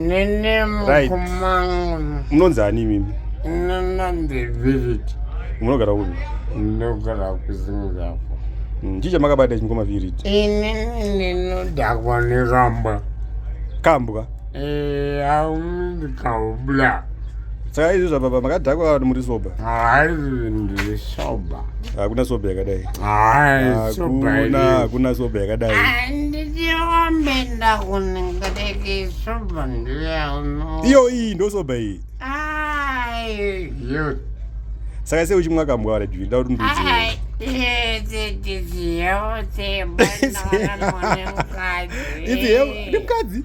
Nene mukumangu. Munonzi ani mimi? Nana the village. Munogara kupi? Ndogara kuZimbabwe. Mm, chii chamakabata ichi mukoma Virid? Ini ndinodakwa neramba. Kambwa? Eh, aumindi kaubla. saka izvi zvababa makadhakwa vanhu muri soba soba hakuna soba yakadai hakuna hakuna soba yakadai ndiombe ndakunenga deke soba ndiyauno iyo iyi ndo soba iyi saka sei uchimwa kambwa wara jwi nda kuti ndiudziipi hemukadzi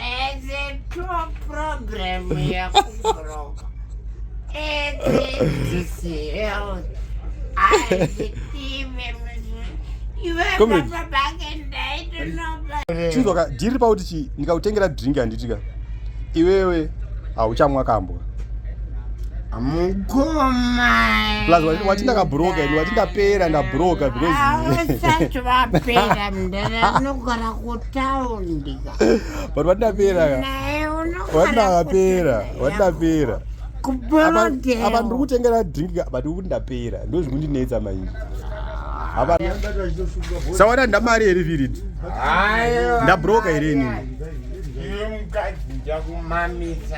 It's a true problem yakubroka. It's health. I see chinzwaka dhiri pakuti chii ndikakutengera drink handitika iwewe hauchamwa kambwa plus wati ndakabroka ini wati ndapera ndabroka because kutaundi but vatapera vatapera vatapera apa ndiri kutengera drink but ukuti ndapera ndozvikundinetsa maizvi sawana ndamari here virid ndabroka here inini